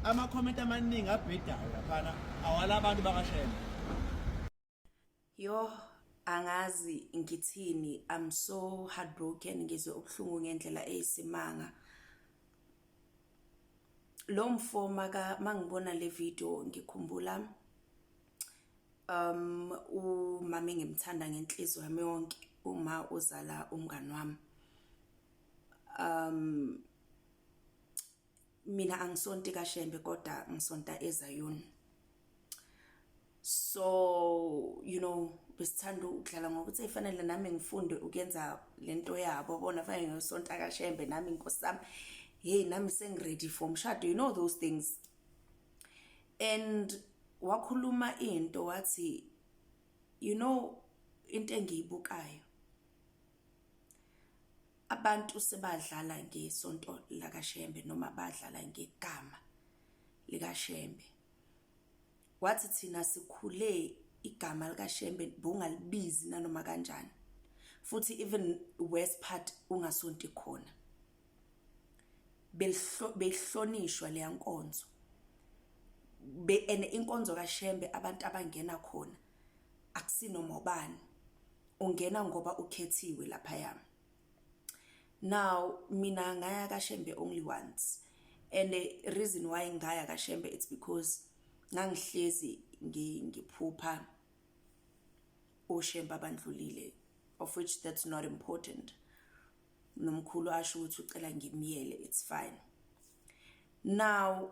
Amakhomenti amaningi abhedayo laphana awala abantu bakashema. Yoh angazi ngithini I'm so heartbroken ngizwe ubuhlungu ngendlela eyisimanga lo mfo maka mangibona le video ngikhumbula um umama engimthanda ngenhliziyo yami yonke uma uzala umngani wami um mina angisonti kaShembe kodwa ngisonta eZayoni so you know besithanda ukudlala ngokuthi efanele nami ngifunde ukuyenza lento yabo bona fanele ngisonta kaShembe nami inkosi sami hey nami sengiready for umshado you know those things and wakhuluma into wathi you know into engiyibukayo abantu sebadlala ngesonto lakaShembe noma badlala ngegama likaShembe wathi thina sikhule igama likaShembe bongalibizi nanoma kanjani futhi even worse part ungasonti khona behlonishwa leya nkonzo be and inkonzo kaShembe abantu abangena khona akusinoma ubani ungena ngoba ukhethiwe lapha yami now mina ngaya kashembe only once and the reason why ngaya kashembe it's because ngangihlezi ngiphupha oshembe abandlulile of which that's not important nomkhulu asho ukuthi ucela ngimyele it's fine now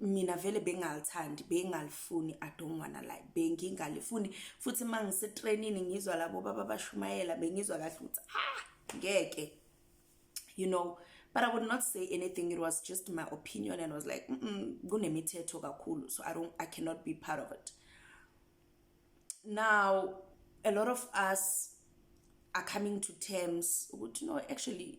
mina vele bengalithandi bengalifuni i don't wanna lie bengingalifuni futhi uma ngisetrainini ngizwa labo baba bashumayela bengizwa kahle ukuthi ah ngeke you know but i would not say anything it was just my opinion and was like kunemithetho kakhulu so i don't i cannot be part of it now a lot of us are coming to terms ukuthi no actually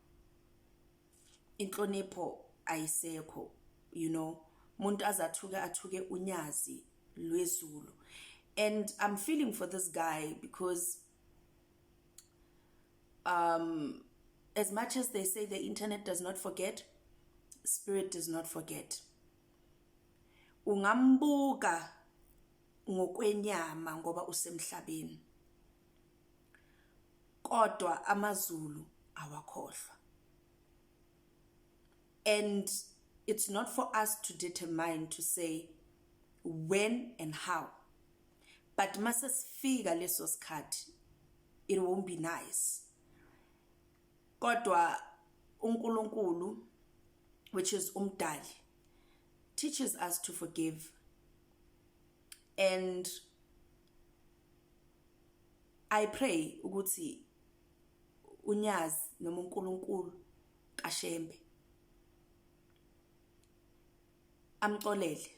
inhlonipho ayisekho you know umuntu azathuke athuke unyazi lwezulu and i'm feeling for this guy because um as much as they say the internet does not forget spirit does not forget ungambuka ngokwenyama ngoba usemhlabeni kodwa amazulu awakhohlwa and it's not for us to determine to say when and how but mase sifika leso sikhathi it won't be nice kodwa uNkulunkulu which is umdali teaches us to forgive and i pray ukuthi unyazi noma uNkulunkulu kaShembe amxolele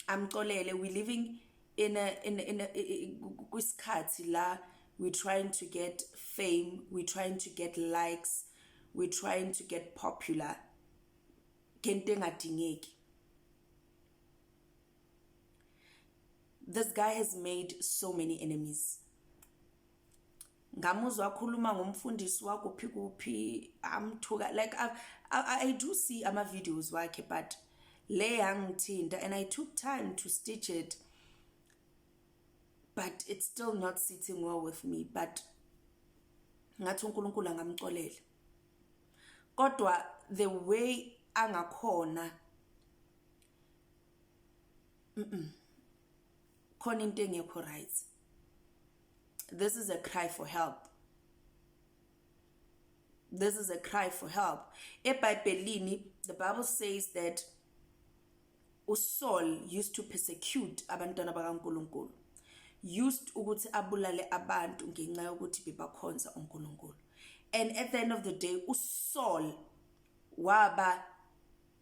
amxolele we living in a in in kwisikhathi la we trying to get fame we trying to get likes we trying to get popular ngento engadingeki this guy has made so many enemies ngamuzwa akhuluma ngomfundisi wakuphi kuphi amthuka like I, I, I do see ama videos wakhe but le yangithinta and I took time to stitch it but it's still not sitting well with me but ngathi uNkulunkulu angamxolele kodwa the way angakhona mm khona into engekho right this is a cry for help this is a cry for help ebhayibhelini the bible says that uSaul used to persecute abantwana bakaNkuluNkulu used ukuthi abulale abantu ngenxa yokuthi bebakhonza uNkulunkulu and at the end of the day uSaul waba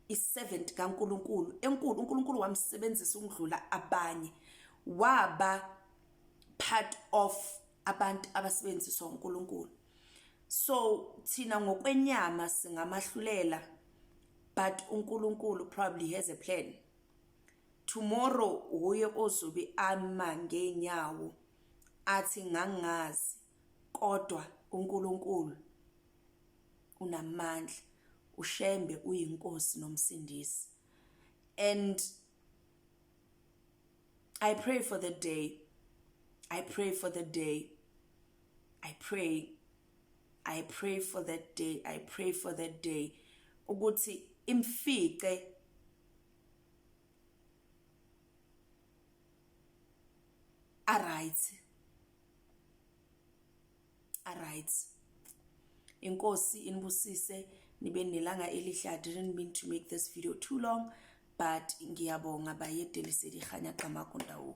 i-servant kaNkuluNkulu enkulu uNkulunkulu wamsebenzisa ukudlula abanye waba part of abantu abasebenziswa uNkulunkulu so thina ngokwenyama singamahlulela but uNkulunkulu probably has a plan tomorrow uye ozobe ama ngenyawo athi ngangazi kodwa uNkulunkulu unamandla ushembe uyinkosi nomsindisi and I pray for the day. I pray for the day. I pray. I pray for that day. I pray for that day. Ukuthi imfice a right. aright inkosi inibusise nibe nelanga elihle i didn't mean to make this video too long but ngiyabonga bayedeliseli ihanya qamakundawo